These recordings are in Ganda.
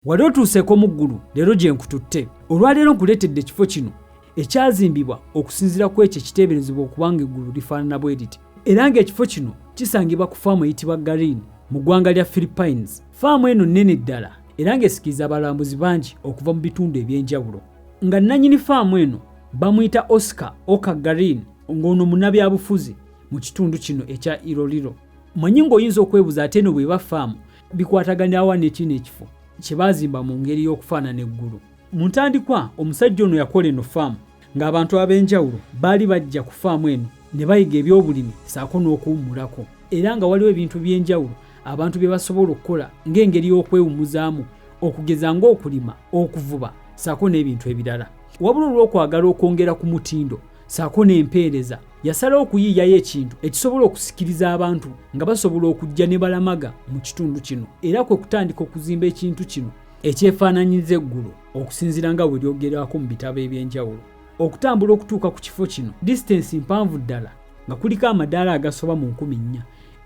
wali otuuseeko mu ggulu leero gye nkututte olwaleero nkuleetedde ekifo kino ekyazimbibwa okusinziira ku ekyo ekiteeberezebwa okubanga eggulu lifaanana bwe riti era ng'ekifo kino kisangibwa ku faamu eyitibwa garin mu ggwanga lya philippines faamu eno nnene ddala era ng'esikiriza abalambuzi bangi okuva mu bitundu eby'enjawulo nga nnanyini faamu eno bamuyita oscar oka garin ng'ono munabyabufuzi mu kitundu kino ekya iroliro manyi ng'oyinza okwebuza ate eno bweba faamu bikwataganyawa nekino ekifo kyebazimba mu ngeri y'okufaanana eggulu mu ntandikwa omusajja ono yakola eno faamu ng'abantu ab'enjawulo baali bajja ku faamu eno ne bayiga ebyobulimi saako n'okuwummulako era nga waliwo ebintu by'enjawulo abantu bye basobola okukola ng'engeri y'okwewummuzaamu okugeza ng'okulima okuvuba saako n'ebintu ebirala wabula olw'okwagala okwongera ku mutindo saako n'empeereza yasalawo okuyiiyayo ekintu ekisobola okusikiriza abantu nga basobola okujja ne balamaga mu kitundu kino era kwe kutandika okuzimba ekintu kino ekyefaananyiriza eggulu okusinziira nga bwe lyogerwako mu bitabo eby'enjawulo okutambula okutuuka ku kifo kino disitensi mpanvu ddala nga kuliko amadaala agasoba mu nkumi nnya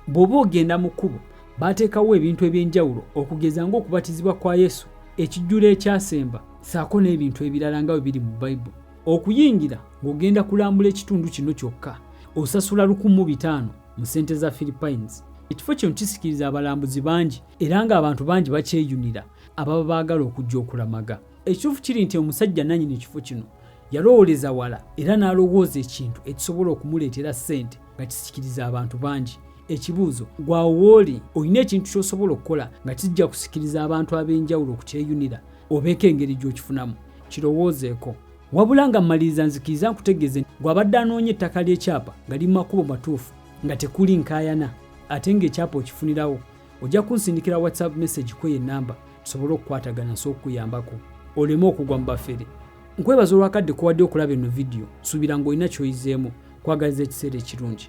bw'oba ogenda mu kkubo baateekawo ebintu eby'enjawulo okugeza ng'okubatizibwa kwa yesu ekijjulo ekyasemba saako n'ebintu ebirala nga bwe biri mu bayibuli Okuyingira ng'ogenda kulambula ekitundu kino kyokka osasula lukumu bitaano mu ssente za Philippines. Ekifo kino kisikiriza abalambuzi bangi era ng'abantu bangi bakyeyunira ababa baagala okujja okulamaga. Ekituufu kiri nti omusajja nannyini kifo kino yalowooleza wala era n'alowooza ekintu ekisobola okumuleetera ssente nga kisikiriza abantu bangi ekibuuzo gwawooli olina ekintu kyosobola okukola nga kijja kusikiriza abantu ab'enjawulo okukyeyunira obeeko engeri gy'okifunamu kirowoozeeko wabula nga mmaliriza nzikiriza nkutegeeze gw'abadde anoonya ettaka ly'ekyapa nga li mu makubo matuufu nga tekuli nkaayana ate ng'ekyapa okifunirawo ojja kunsindikira whatsapp message kweyo enamba tusobole okukwatagana nsobola okukuyambako oleme okugwa mu bafere nkwebaza olwakadde kowadde okulaba eno vidiyo nsuubira ng'olina kyoyizeemu kwagaliza ekiseera ekirungi